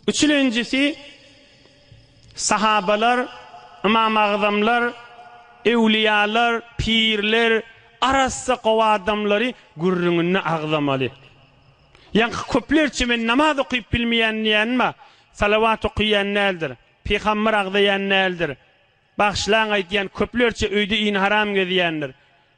Üçülenjisi, sahabalar, ymam agzamlar, öwliýalar, pirler, arassa gowy adamlary gürrüňinde agzamaly. Ýaňky köplerçe men namaz okyp bilmeýän diýýänma, salawat okyýan däldir, pygamber agzaýan däldir, bagşlaň aýdýan köplerçe öýde ýnharam gezýändir,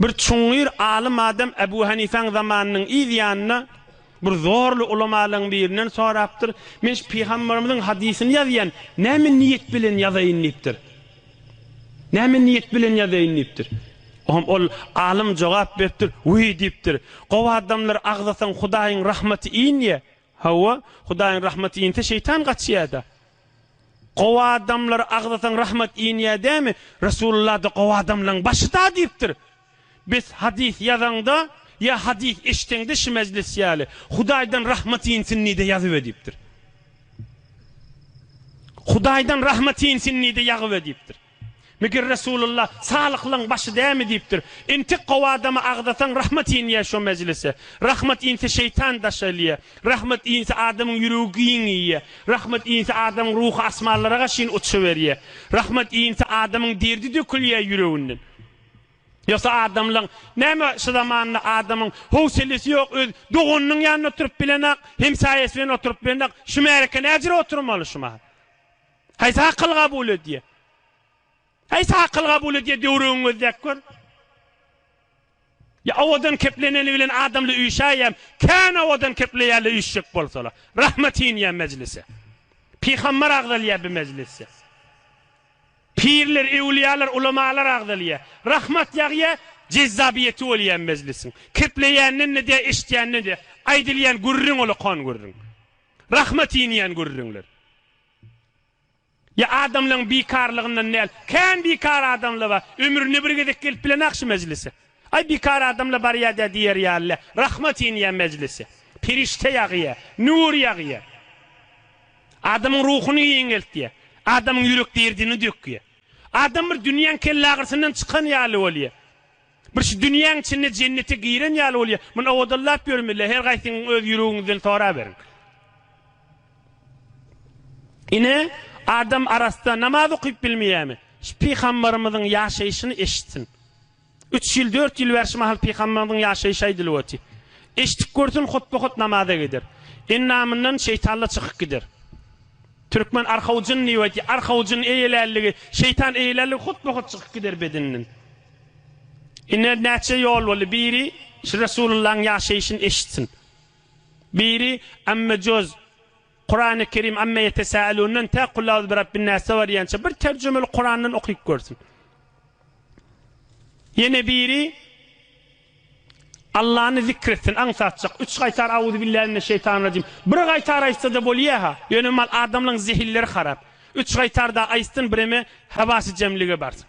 Bir çuňňur alym adam Ebu Hanifäň zamanynyň yz ýanynda bir zorly ulamalaryň birinden sorapdyr, Men şu pygamberimiziň hadysyny ýazýan, näme niýet bilen ýazaýyn diýipdir. Näme niýet bilen ýazaýyn diýipdir. Oňam ol alym jogap beripdir, Wiý diýipdir, gowy adamlar agzasaň Hudaýyň rahmaty inýä. Hawa, Hudaýyň rahmaty inse şeýtan gaçýada. Gowy adamlar agzasaň rahmat inýär dämi? Resulullah-da gowy adamlaň başyda diýipdir. Bes hadys ýazaňda ýa hadys eşdeňde şi mejlis ýaly, Hudaýdan rahmat insin nide ýazybe diýipdir. Hudaýdan rahmat insin nide ýagybe diýipdir. Meger Resulalla Salyhlaň başy dämi diýipdir. Entek gowy adama agzasaň rahmat inýä şo mejlise. Rahmat inse şeýtan daş elýä. Rahmat inse adamyň ýüregi giň iýýä. Rahmat inse adamyň ruhy asmanlaraga çyn uçuberýä. Rahmat inse adamyň derdi dökülýä ýüreginden. Ýogsa adamlaň näme şu zamanda adamyň howselesi ýok öz doganynyň ýanynda oturyp bilenak, hemsaýasy bilen oturyp bilenak şu märeke näjire oturmaly şu mahaly. Haýsy akyl kabul edýär? Haýsy akyl kabul edýär döwrügiňi gözläp gör. Ýa owadan kepleneni bilen adamly üýşäýem, kän owadan kepleýärler üýşjek bolsalar. Rahmet inýär mejlise. Pygambar agzalýar bi mejlisde. Pirler, ewliýalar, ulamalar agzalýar. Rahmat ýagýar, jezzabyýeti bolýar mejlisiň. Kepleýänden edýär, eşitýänden edýär. Aýdylýan gürrüň ola kon gürrüň. Rahmet inýän gürrüňler. Ýa adamlaň bikarlygyndan däl, kän bikar adamla bar, ömründe bir gezek gelip bilenok şu mejlise. Aý bikar adamla barýadä diýer ýaly, rahmat inýä mejlise. Perişde ýagýa, nur ýagýa. Adamyň ruhuny ýeňeltýä. Adamyň ýürek derdini dökýä. Adam bir dünýäň kellagyrsyndan çykan ýaly bolýa. Bir şu dünýäň içinde jennete giren ýaly bolýar. Muny owadallap ýörün bile, her gaýsyňyz öz ýüregiňizden soraberiň. Ine, adam arassa namaz okyp bilmeýärmi? Şu pygambarymyzyň ýaşaýşyny eşitsin. Üç ýyl, dört ýyl bäri şu mahal pygambarymyzyň ýaşaýşy aýdylyp otyr. Eşidip görsün, hotba-hot namaza gider. Endamyndan şeýtanla çykyp gider. Türkmen arhawjyn diýip aýdýar. Arhawjyn eýelärligi, şeýtan eýelärligi hotba-hot çykyp gider bedeninden. Ine, näçe ýol boldy, biri Resulyllahyň ýaşaýşyny eşitsin, biri Amme Jöz, Kurany Kerim Amme Ýetesälundan tä Kul A'uzu Birabbin Näse barýança bir terjimeli Kurandan okyp görsün. Ýene biri Allany zikr etsin, aňsatjak, üç gaýtar A'uzu Billahi Mine Şeýtany Rajim, bir gaýtar aýtsa-da bolýa-ha, ýöne mal adamlaryň zehinleri harap, üç gaýtar-da aýtsyn, bireme hawasy jemlige barsyn.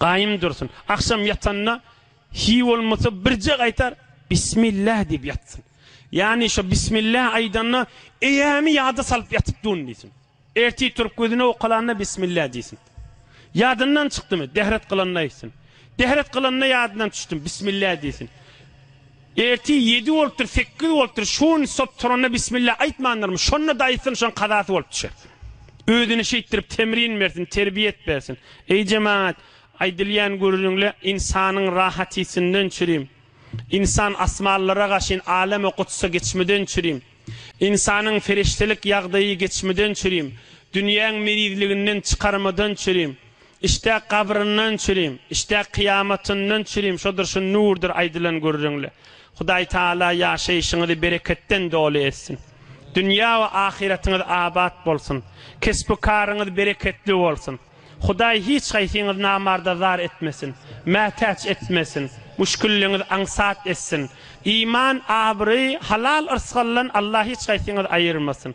Gaýym dursun. Agşam ýatanda hiý bolmasa birje gaýtar Bismillah diýip ýatsyn. Ýagny şo Bismillah aýdanda eýämi ýada salyp ýatyp durun diýsin. Ertir turup gözüni owkalanda Bismillah diýsin. Ýadyndan çykdymy, dehret kylanda aýtsyn. Dehret kylanda ýadyndan düşdüm, Bismillah diýsin. Ertir ýedi bolupdyr, sekiz bolupdyr, şu gün sop turanda bismilla aýtmandyrmy, şonda daýysyny şoň kazasy bolup düşer. Özüne şeýtdirip temrin bersin, terbiýet bersin. Eý jemagat, aýdylýan gürrüňle ynsanyň rahatysynden çürim. Ynsan asmanlara gaşyn aleme gutsa geçmeden çürim. Ynsanyň ferişdelik ýagdaýy geçmeden çürim. Dünýäň merizliginden çykarmadan çürim. Işdä gabryndan çürim, işdä kyýamatyndan çürim, şodur şu nurdur aýdylan gürrüňli. Hudaý Taala ýaşaýşyňyzy bereketden doly etsin. Dünýä we ahyratyňyz abat bolsun. Kesbi-karyňyz bereketli bolsun. Hudaý hiç haýsyňyzy namarda zar etmesin, mätäç etmesin, müşgilliňizi aňsat etsin. Iman, abraý, halal yrsgaldan Allah hiç haýsyňyzy aýyrmasyn.